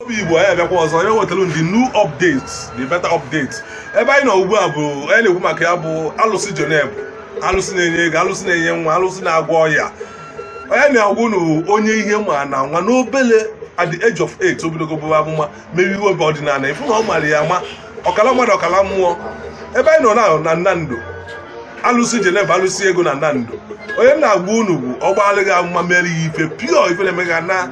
obi igbo anyị abịakwa ọzọ iwetara unu the new updates the better updates ebe anyị nọ ugbu a bụ anyị na-ekwu maka ya bụ alụsị Jeneva alụsị na-enye ego alụsị na-enye nwa alụsị na-agwọ ọya onye m na-agwa unu onye ihe ma na nwa n'obele at the age of 8 o bidogo buba amụma mebe ihe ọdịnala ị fụ na ọ mara ya ama ọkala mmadụ ọkala mmụọ ebe anyị nọ na Nando alụsị Jeneva alụsị ego na Nando onye m na-agwa unu bụ ọgba alụghị amụma mere ya ife pio ife na-emega na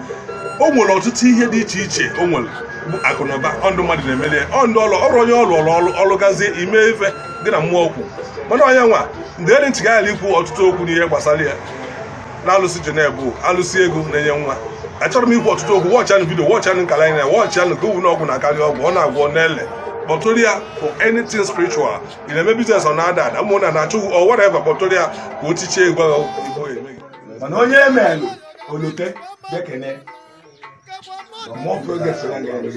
o nwere ọtụtụ ihe dị iche iche o nwere bụ akụnụba ndị mmadụ na-emere ọrụ onye rụrụ gazie ime ife dị na mmụọ okwu mana onye nwa mgbe eri ntị gaghara ikwu ọtụtụ okwu n'ihe gbasara ya na alụsị Jeneva bụ alụsị ego na-enye nwa achọrọ m ikwu ọtụtụ okwu watchanụ video watchanụ nkala anyị na watchanụ ka owu na ọgwụ na-akarị ọgwụ ọ na-agwọ n'ele kpọtụrụ ya for anything spiritual ị na-eme business ọ na-ada ada ụmụnna na-achụ gị or whatever kpọtụrụ ya ka o tichie egwu agha igbo emeghị mana onye emelụ o lote bịa kene more progress na ga-eme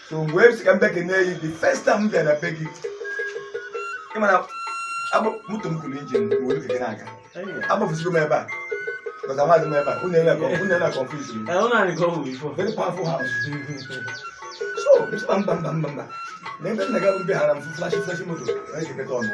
so wee sị ka m bịa kene yi the first time m bịara be gị ị ma na moto m kụrụ engine were keke na-aga agbafụsigo m ebe a because amaghị m ebe a unu ele unu ele confuse m Eh, unu anyị ka ọ bụ before. very powerful house so mba mba mba mba mba na ebe nna gị abụrụ be hara m fụ flashy flashy moto na-ekeketa ọnụ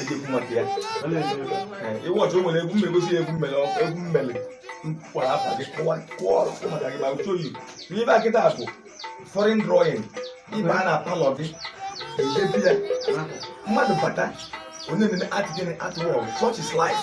ejekwu maka ya ịwọchị o nwere egwu mmegosi egwu mmele egwu mmele kwara afa gị kụwa kụọ ọrụ kụ maka gị ma uche oyi n'ebe a kịta bụ foreign drawing ị bịa na parlour gị edebe ya mmadụ bata onye na-ene art gịnị art work such is life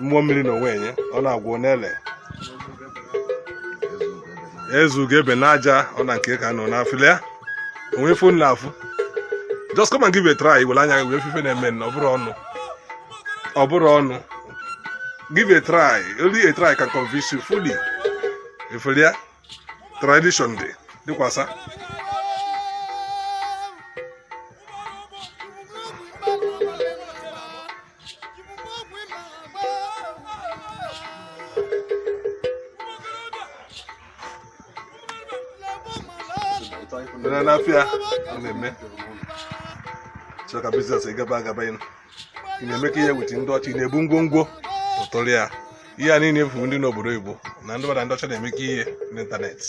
mmụọ mmiri na onwe enye ọ na-agwọ n'ele eze ugo ebe n'aja ọ na nke ka nọ n'afịlị ya o nwe ife m na-afụ just come and give a try were anya wee fụ ife na-eme na ọ bụrọ ọnụ ọ bụrọ ọnụ give a try only a try can convince you fully efere ya tradition dị dịkwasa na n'afịa ọ na-eme chọrọ ka business gaba agaba ịnụ ị na-eme ka ihe weta ndị ọcha na-ebu ngwongwo kpọtụrụ ya ihe a niile efu ndị n'obodo oyibo na ndị mmadụ ndị ọcha na-eme ka ihe n'ịntanetị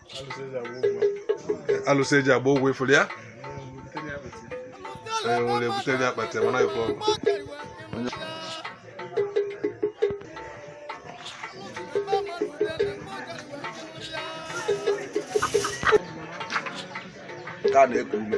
alụsị e ji agba ụgwọ ị fụrụ ya onye ebutere ya akpati mana ife ọgwụ ka na-eku ume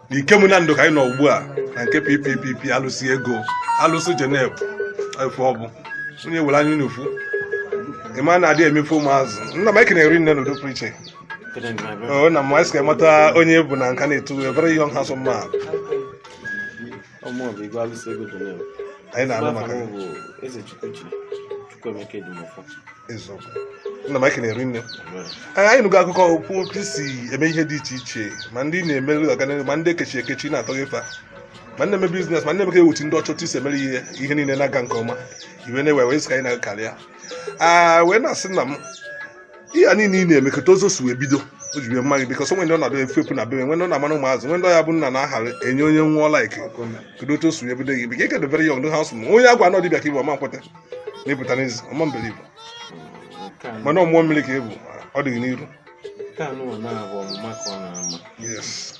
Ikem Nando ka anyị nọ ugbu a na nke ppp alụsị ego alụsị jeneb efe ọ bụ onye were anya n'ufu ịma na-adị emefu ụmụazụ nna m ekene rinne n'udo pụrụ iche nna m anyị sị ka anyị mata onye ị bụ na nka na-etu a very young handsome man Ọmụọbụ Igwe Alụsị Ego dị n'elu. Anyị na-anụ maka ya. bụ Eze Chukwuchi Chukwuemeka Edimọfọ. Eziokwu. Nna m ekene rinne. Anyị anyị nụgo akụkọ okwu otu i si eme ihe dị iche iche ma ndị ị na-emere ọganihu ma ndị ekechi ekechi ị na-atọghe fa. ma ndị na-eme business ma ndị na-emeka ewuchi ndị ọcha otu i si emere ihe ihe niile na-aga nke ọma iwe na-ewe wee sị ka anyị na gị karịa a wee na-asị nna m ihe a niile ị na-eme kedu ụzọ o si wee bido o ji bie mma gị because o nwe ndị ọ na-adị efepụ na bebe nwe ndị ọ na-amara ụmụazụ nwe ndị ọ ya bụ nna na-ahara enye onye nwụọ like kedu otu o si wee bido gị because ị ka dị very young ọdụ ha sụ onye a gwa na ọ dibịa ka ị bụ ọ ma nkweta na ị pụta n'ezi ọma mbere ị bụ Nke a- mana ọ mmụọ mmiri ka ị bụ ọ dịghị n'iru nke a nụwa na-abụ ọmụma ka ọ na-ama yes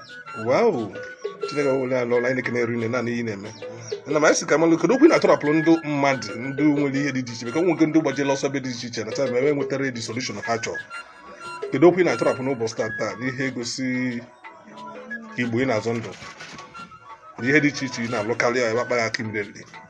wow chineke wele ala ọla anyị na-eri nne naanị ihe na-eme nna m anyị sị ka anyị malụ kedu okwu ị na-atụrapụrụ ndị mmadụ ndị nwere ihe dị iche iche maka nwoke ndị gbajela ọsọ ebe dị iche iche na taa enwetarọ the solution ha chọrọ kedu okwu ị na-atụrapụ n'ụbọchị taa taa n'ihe egosi igbo ị na-azọ ndụ ihe dị iche iche ị na-alụ karịa ebe akpaghị aka imere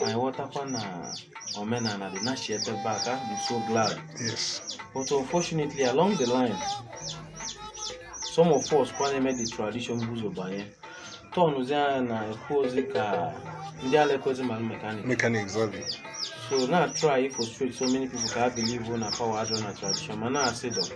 anyị ghọtakwa na omenala dị nachi ebe be aka I'm so glad yes but unfortunately along the line some of us kwa na-eme the tradition bu ụzọ banye tọnụzi anya na ekwu ozi ka ndị ala ekwezi mara mekanik mechanics ọ dị so na try frustrate so many people ka ha believe na power adịrọ na tradition ma na-asị dọ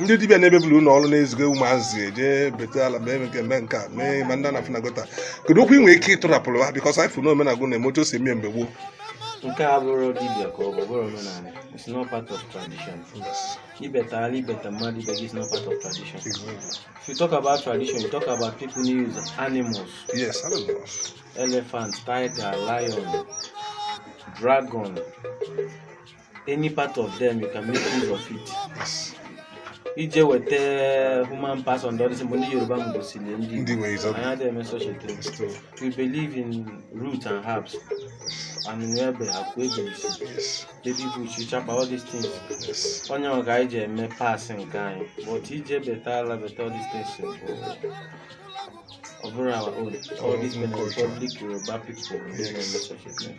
ndị dibịa na-emebili unu ọrụ na-eziga ụmụazị e je beta ala mee nke mee nke a mee ma ndị na-afụ na gutter kedu okwu ị nwere ike ịtụrapụrụ ha because anyị fụ na omenagụ na-eme otu o si eme mgbe gboo nke a abụrọ dibịa ka ọ bụ bụrọ omenala it's not part of tradition ịbeta ala ịbeta mmadụ ibe gị is not part of tradition if you talk about tradition you talk about people na use animals yes animals elephant tiger lion dragon any part of them you can make use of it ije weta human parts on the other side, ndị yoruba m gosiri ndị Ndị nwere Igbo ụzọ- anyị adịghị eme such a thing It's true. we believe in root and herbs and nwebe akwa ebeisi Yes. baby bush chapa all these things Yes. ọ nya ka anyị ji eme parts nke anyị but ije beta ala beta all these things bụ ọ bụrọ our own all these Benin Republic yoruba people ndị na-eme such a thing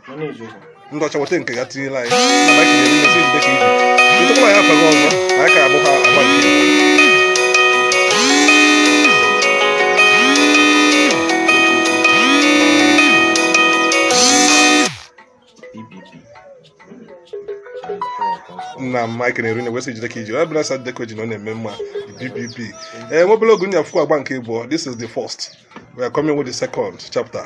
ndị ọcha weta nke ya tinyela anyị na anyị kenyere mmesi jide ka i ji ịtụkwa ya afaghị ọzọ na anyị ka abụ ha agba nke na mike na-eru na-ewesị jide ka i ji ọ bụla sị jide ka o ji na ọ na-eme mma bpp ee nwebele ogu nya fụkwa agba nke abụọ this is the first we are coming with the second chapter